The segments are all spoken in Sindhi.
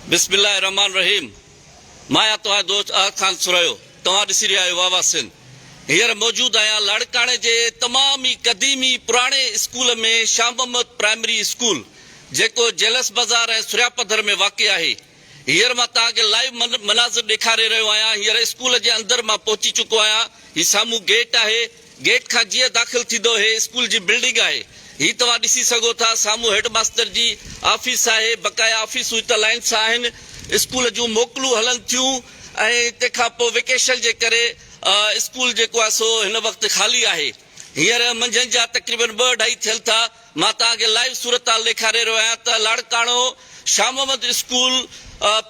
بسم الله الرحمٰن الرحيم مان آهيان توهان جو دوست احد خان سرهيو توهان ڏسي رهيا آهيو واوا سنڌ هينئر موجود آهيان لاڙڪاڻي جي تمام ئي قديمي پراڻي school ۾ Shah Muhammad primary school جيڪو جيلس بازار ۽ سرهيا پڌر ۾ واقع آهي هينئر مان توهان کي لائيو مناظر ڏيکاري رهيو آهيان هينئر اسڪول جي اندر مان پهچي چڪو آهيان هي سامهون گيٽ آهي گيٽ کان جيئن داخل ٿيندو هي اسڪول جي بلڊنگ آهي هي توهان ڏسي سگهو ٿا سامهون هيڊ ماستر جي آفيس آهي بقايا آفيسون هت لائن سان آهن اسڪول جون موڪلون هلن ٿيون ۽ تنهن کان پوء ويڪيشن جي ڪري اسڪول جيڪو آهي سو هن وقت خالي آهي هينئر منجهند جا تقريبن ٻه اڍائي ٿين ٿا مان توهان کي لائيو صورتحال ڏيکاري رهيو آهيان ته Larkana Shah Muhammad school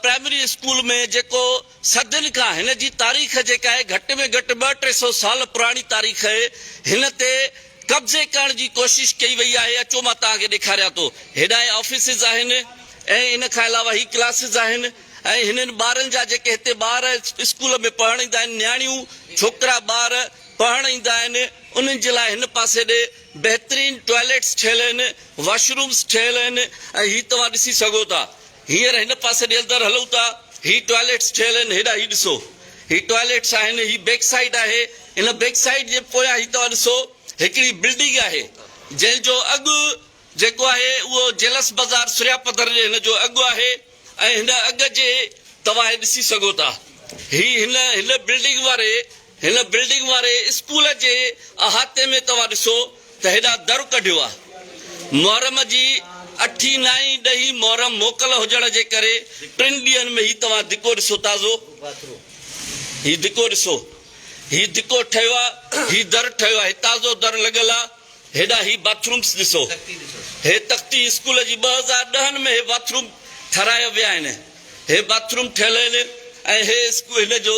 primary school ۾ جيڪو صدين کان هن جي تاريخ جيڪا آهي گهٽ ۾ گهٽ ٻه ٽي سو سال پراڻي تاريخ آهي هن تي قبضي ڪرڻ جي ڪوشش ڪئي وئي آهي اچو مان توهان کي ڏيکاريان ٿو هيڏانهن آفيسز آهن ۽ ان کان علاوه هي ڪلاسز آهن ۽ هنن ٻارن جا جيڪي هتي ٻار اسڪول ۾ پڙهڻ ايندا آهن نياڻيون ڇوڪرا ٻار پڙهڻ ايندا آهن انهن جي لاء هن پاسي ڏي بهترين ٽوائليٽس ٺهيل آهن واشرومز ٺهيل آهن ۽ هي توهان ڏسي سگهو ٿا هينئر هن پاسي ڏي اندر هلون ٿا. هي ٽوائلٽس ٺهيل آهن. هيڏانهن هي ڏسو. هي ٽوائلٽس آهن. هي بيڪ سائيڊ آهي. ان بيڪ سائيڊ جي پويان هي توهان ڏسو هڪڙي بلڊنگ آهي. جنهن جو اڳ جيڪو آهي اهو جيلس بازار سريا پڌر جي هن جو اڳ آهي ۽ هن اڳ جي توهان هي ڏسي سگهو ٿا. هي هن هن بلڊنگ واري هن بلڊنگ واري اسڪول جي احاطي ۾ توهان ڏسو ته هيڏا در ڪڍيو آ. محرم جي اٺين نائين ڏهين محرم موڪل هجڻ جي ڪري ٽن ڏينهن ۾ هي توهان ڌڪو ڏسو تازو هي ڌڪو ڏسو هي ڌڪو ٺهيو آ هي در ٺهيو آ هي تازو در لڳل آ هيڏا هي باٿرومس ڏسو هي تختي اسڪول جي ٻه هزار ڏهن ۾ هي باٿروم ٺهرايا ويا آهن هي باٿروم ٺهيل آهن ۽ هي اسڪول هن جو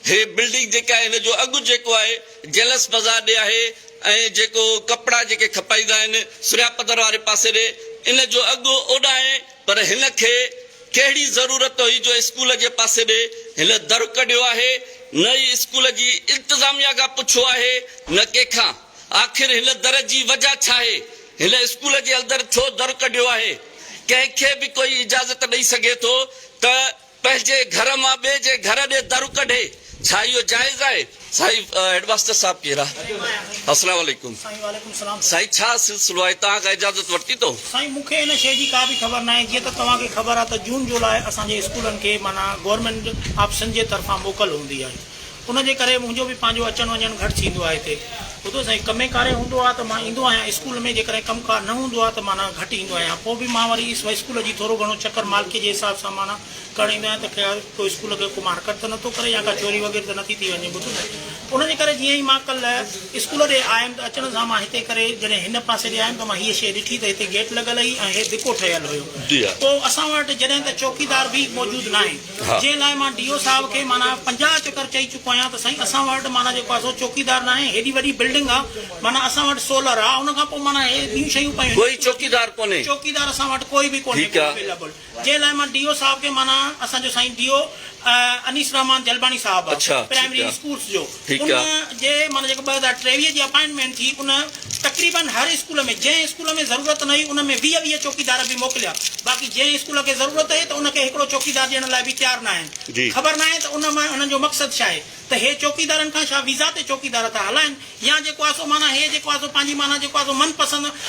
هي بلڊنگ جيڪا آهي هن جو اڳ جيڪو آهي جيلس بازار ڏي آهي ۽ جيڪو ڪپڙا جيڪي کپائيندا آهن سريا پڌر واري پاسي ڏي ان جو اڳ اوڏانهن پر هن کي ڪهڙي ضرورت هئي جو اسڪول جي پاسي ڏي هن در ڪڍيو آهي نه ئي اسڪول جي انتظاميا کان پڇيو آهي نه ڪنهن کان آخر هن در جي وجه ڇا آهي هن اسڪول جي اندر ڇو در ڪڍيو آهي ڪنهن کي به ڪوئي اجازت ڏئي سگهي ٿو ته پنهنجي گهر مان ٻئي جي گهر ڏي در ڪڍي ڇا اهو جائز آهي؟ سائين هيڊماستر صاحب ڪير آ السلام عليڪم سائين ڇا سلسلو آهي توهان کان اجازت ورتي اٿو. سائين مون کي ان شئي جي ڪا به خبر ناهي جيئن ته توهان کي خبر آ ته جون جولاء اسان جي اسڪولن کي معنيٰ گورنمينٽ آف سنڌ جي طرفان موڪل هوندي آهي. ان جي ڪري منهنجو به پنهنجو اچڻ وڃڻ گهٽ ٿيندو آهي هتي. ٻڌو سائين ڪمي ڪاري هوندو آهي ته مان ايندو آهيان اسڪول ۾ جيڪڏهن ڪم ڪار نه هوندو آهي ته معنيٰ گهٽ ايندو آهيان پوء به مان وري اسڪول جي ٿورو گهڻو چڪر مالڪي جي حساب سان معنيٰ ڪرڻ ايندو آهيان ته خيال ڪو اسڪول کي ڪو مارڪٽ ته نٿو ڪري يا ڪا چوري وغيره ته نٿي ٿي وڃي ٻڌو سائين ان جي ڪري جيئن ئي مان ڪل اسڪول ڏي آيم ته اچڻ سان مان هتي ڪري جڏهن هن پاسي ڏي آيم ته مان هيء شيء ڏٺي ته هتي گيٽ لڳل هئي ۽ هي ڌڪو ٺهيل هيو پوء اسان وٽ جڏهن ته چوڪيدار به موجود ناهي. جنهن لاء مان ڊي او صاحب کي معنيٰ پنجاهه چڪر چئي چڪو آهيان ته سائين اسان وٽ معنيٰ جيڪو آهي سو چوڪيدار ناهي هيڏي وڏي بلڊنگ آ معنيٰ اسان وٽ سولر آ ان کان پوء معنيٰ هي ٻيون شيون پيون آهن ڪوئي چوڪيدار ڪونهي چوڪيدار اسان وٽ ڪوئي به ڪونهي ٺيڪ آ جنهن لاء مان ڊي او صاحب کي معنيٰ اسان جو سائين ڊي او انيس رحمان جلباڻي صاحب آ پرائمري اسڪولس جو ان جي معنيٰ جيڪا ٻه هزار ٽيويهه جي اپائنٽمينٽ ٿي، ان تقريبن هر اسڪول ۾ جنهن اسڪول ۾ ضرورت نه هئي، ان ۾ ويهه ويهه چوڪيدار به موڪليا، باقي جنهن اسڪول کي ضرورت هئي ته ان کي هڪڙو چوڪيدار ڏيڻ لاء به تيار ناهن. خبر ناهي ته ان مان هنن جو مقصد ڇا آهي ته هي چوڪيدارن کان ڇا ويزا تي چوڪيدار ٿا هلائن يا جيڪو آهي سو معنيٰ هي جيڪو آهي سو پنهنجي معنيٰ جيڪو آهي سو من پسند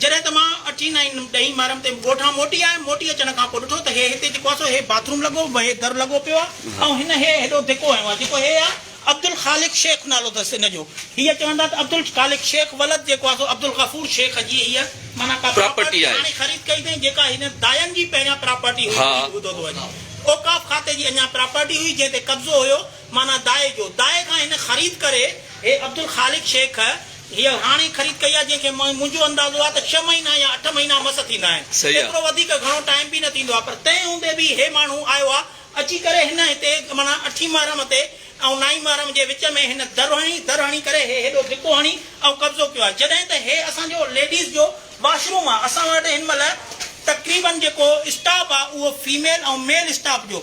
جڏهن ته مان اٺين ۽ ڏهين مارم تي ڳوٺان موٽي آيم، موٽي اچڻ کان پوء ڏٺو ته هي هتي جيڪو آ سو هي باٿ روم لڳو هي در لڳو پيو آ ۽ هن هي هيڏو ڌڪو هنيو آ جيڪو هي آ عبدالخالق شيخ نالو اٿس هن جو هيء چون ٿا ته عبدالخالق شيخ ولد جيڪو آ سو عبدالغفور شيخ جي هيء معنيٰ ڪا پراپرٽي هاڻي خريد ڪئي اٿئين جيڪا هن داين جي پهريان پراپرٽي هئي اهو به ٻڌو ٿو وڃي اوقاف کاتي جي اڃان پراپرٽي هئي جنهن تي قبضو هيو معنيٰ دائي جو دائي کان هن خريد ڪري هي عبدالخالق شيخ هيء هاڻي خريد ڪئي آهي جنهن کي منهنجو اندازو آهي ته ڇهه مهينا يا اٺ مهينا مس ٿيندا آهن. ايترو وڌيڪ گهڻو ٽائيم به نه ٿيندو آهي پر تنهن هوندي به هي ماڻهو آيو آهي. اچي ڪري هن هتي معنيٰ اٺين محرم تي ۽ نائين محرم جي وچ ۾ هن در هڻي در هڻي ڪري هي هيڏو ڌڪو هڻي ۽ قبضو ڪيو آهي جڏهن ته هي اسان جو ليڊيز جو واش روم آهي. اسان وٽ هن مهل تقريبن جيڪو اسٽاف آهي اهو فيميل ۽ ميل اسٽاف جو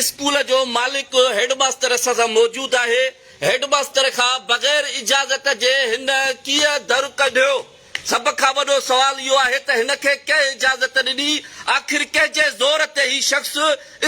اسڪول جو مالڪ هيڊ ماستر اسان سان موجود آهي، هيڊ ماستر کان بغير اجازت جي هن ڪيئن در ڪڍيو؟ سڀ کان وڏو سوال اهو آهي ته هن کي ڪنهن اجازت ڏني؟ آخر ڪنهن جي زور تي هي شخص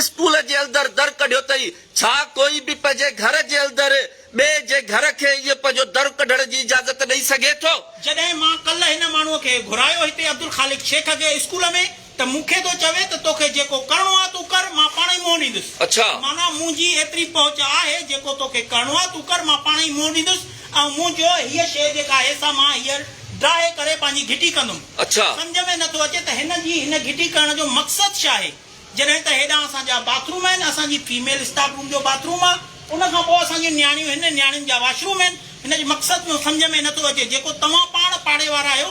اسڪول جي اندر در ڪڍيو تئي؟ ڇا ڪوئي به پنهنجي گهر جي اندر ٻئي جي گهر کي ائين پنهنجو در ڪڍڻ جي اجازت ڏئي سگهي ٿو؟ جڏهن مان ڪلهه هن ماڻهو کي گهرايو هتي عبدالخالق شيخ کي اسڪول ۾ ته مون کي ٿو چوي ته توکي جيڪو ڪرڻو آ تون ڪر مان پاڻهئي منهن ڏيندس. اڇا! معنيٰ منهنجي ايتري پهچ آهي جيڪو توکي ڪرڻو آ تون ڪر مان پاڻهئي منهن ڏيندس ۽ منهنجو هيء شيء جيڪا آهي سا مان هيء ڊاهي ڪري پنهنجي گهٽي ڪندم. اڇا! سمجهه ۾ نه ٿو اچي ته هن جي هن گهٽي ڪرڻ جو مقصد شاهي؟ جڏهن ته هيڏانهن اسان جا باٿ روم آهن اسان جي فيميل اسٽاف روم جو باٿ روم آ ان کان پوء اسان جون نياڻيون هن نياڻين جا واش روم آهن هن جي مقصد جو سمجهه ۾ نه ٿو اچي جيڪو توهان پاڻ پاڙي وارا آهيو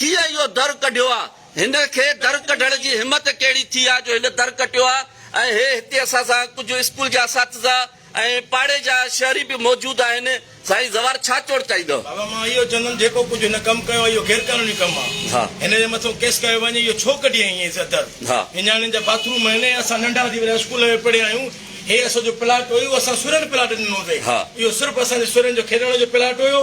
ڪيئن اهو در ڪڍيو آ؟ هن کي در ڪڍڻ جي همت ڪهڙي ٿي آ جو هن در ڪٽيو آ ۽ هي هتي اسان سان ڪجهه اسڪول جا اساتذه ۽ پاڙي جا شهري به موجود آهن، سائين زوار ڇا چوڻ چاهيندؤ؟ بابا مان اهو چوندم جيڪو ڪجهه هن ڪم ڪيو آ اهو غير قانوني ڪم آ هن جي مٿو ڪيس ڪيو وڃي اهو ڇو ڪڍي هيئن ايئن سا در نياڻين جا باٿ روم آهن ۽ اسان ننڍا هوندي وڏا اسڪول ۾ پڙهيا آهيون هي اسو جو پلاٽ هيو اسان سرن پلاٽ ڏنو هوندي اهو صرف اسان جي سرن جو کيڏڻ جو پلاٽ هيو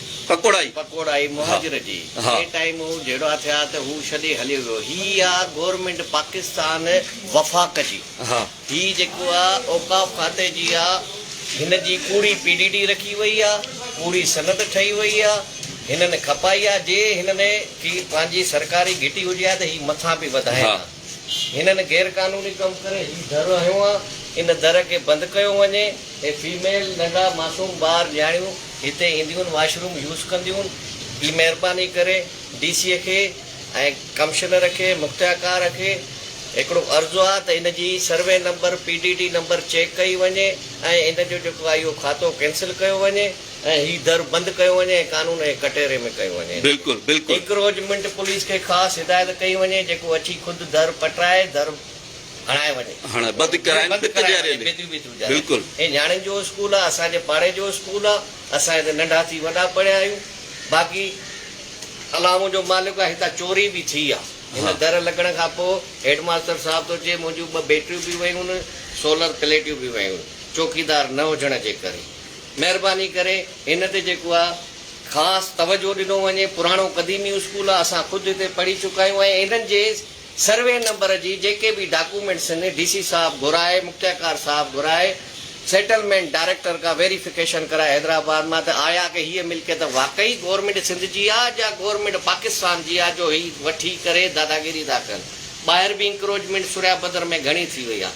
پڪوڙائي. پڪوڙائي مهاجر جي ڪي ٽائيم هو جهيڙا ٿيا ته هو ڇڏي هليو ويو هي آ گورنمينٽ پاڪستان وفاق جي هي جيڪو آ اوقاف کاتي جي آ هن جي ڪوڙي پي ڊي ڊي رکي وئي آ ڪوڙي سند ٺهي وئي آ هنن کپائي آ جي هنن ڪي پنهنجي سرڪاري گهٽي هجي ها ته هي مٿان پي وڌائين ها. هنن غير قانوني ڪم ڪري هي در هنيو آ ان در کي بند ڪيو وڃي هي فيميل ننڍا معصوم ٻار نياڻيون هتي اينديون واش روم يوز ڪنديون هي مهرباني ڪري ڊي سي کي ۽ ڪمشنر کي مختياڪار کي هڪڙو عرض آ ته ان جي survey number P D D number check ڪئي وڃي ۽ ان جو جيڪو آ اهو کاتو ڪينسل ڪيو وڃي. ۽ هي در بند ڪيو وڃي ۽ قانون جي ڪٽهري ۾ ڪيو وڃي. بلڪل بلڪل. اڪروجمنٽ پوليس کي خاص هدايت ڪئي وڃي جيڪو اچي خود در پٽرائي در هڻائي وڃي. هڻائي بند ڪرائي بند ڪرائي وڃي بيتريون بيتريون جاري. بلڪل. هي نياڻين جو اسڪول آ اسان جي پاڙي جو اسڪول آ اسان هتي ننڍا ٿي وڏا پڙهيا آهيون باقي الله منهنجو مالڪ آ هتان چوري به ٿي آ هن در لڳڻ کان پو هيڊ ماستر صاحب ٿو چئي منهنجون ٻه بيٽريون به ويون آهن سولر پليٽيون به ويون آهن چوڪيدار نه هجڻ جي ڪري. مهرباني ڪري هن تي جيڪو آ خاص توجهو ڏنو وڃي پراڻو قديمي اسڪول آ اسان خود هتي پڙهي چڪا آهيون ۽ انهن جي سروي نمبر جي جيڪي به ڊاڪومينٽس هن ڊي سي صاحب گهرائي مختياڪار صاحب گهرائي سيٽلمينٽ ڊائريڪٽر کان ويريفڪيشن ڪرائي حيدرآباد مان ته آيا ڪه هيء ملڪيت واقعي گورنمينٽ سنڌ جي آ جا گورنمينٽ پاڪستان جي آ جو هي وٺي ڪري داداگيري ٿا ڪن ٻاهر به انڪروچمينٽ سوريابدر ۾ گهڻي ٿي وئي آ.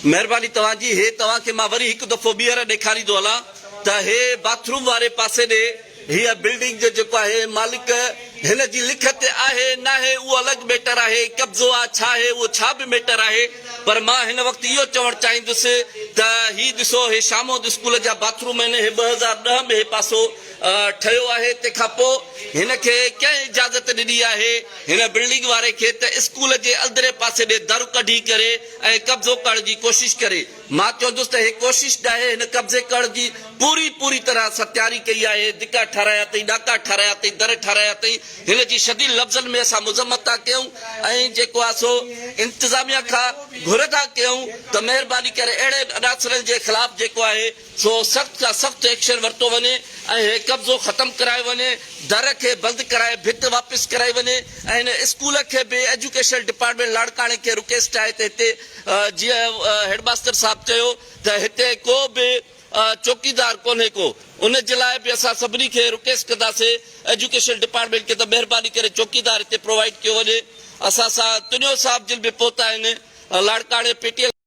مهرباني توهان جي هي توهان کي مان وري هڪ دفعو ٻيهر ڏيکاريندو هلان ته هي باٿ روم واري پاسي ڏي هيء بلڊنگ جو جيڪو آهي مالڪ هن جي لکت تي آهي ناهي اهو الڳ ميٽر آهي قبضو آ ڇا آهي اهو ڇا به ميٽر آهي پر مان هن وقت اهو چوڻ چاهيندس ته هي ڏسو هي شامود اسڪول جا باٿ روم آهن هي ٻه هزار ڏهه ۾ هي پاسو ٺهيو آهي تنهن کان پوء هن کي ڪنهن اجازت ڏني آهي هن بلڊنگ واري کي ته اسڪول جي اندرين پاسي ۾ در ڪڍي ڪري ۽ قبضو ڪرڻ جي ڪوشش ڪري. مان چوندس ته هي ڪوشش ناهي، هن قبضي ڪرڻ جي پوري پوري طرح سان تياري ڪئي آهي، دڪا ٺارايا اٿئي، ناڪا ٺارايا اٿئي، در ٺارايا اٿئي، هن جي شديد لفظن ۾ اسان مذمت ٿا ڪيون ۽ جيڪو آهي سو انتظاميا کان گهر ٿا ڪيون ته مهرباني ڪري اهڙن عناصرن جي خلاف جيڪو آهي سو سخت کان سخت ايڪشن ورتو وڃي ۽ هي قبضو ختم ڪرايو وڃي، در کي بند ڪرائي ڀت واپس ڪرائي وڃي ۽ هن اسڪول کي به ايجوڪيشنل ڊپارٽمينٽ لاڙڪاڻي کي رڪيس چاهي ته هتي جيئن هيڊ ماستر صاحب چيو ته هتي ڪو به چوڪيدار ڪونهي ڪو ان جي لاء به اسان سڀني کي رڪيس ڪنداسي ايجوڪيشنل ڊپارٽمينٽ کي ته مهرباني ڪري چوڪيدار هتي پرووائيڊ ڪيو وڃي اسان سان تنيو صاحب جن به پهتا آهن لاڙڪاڻي پي ٽي ايل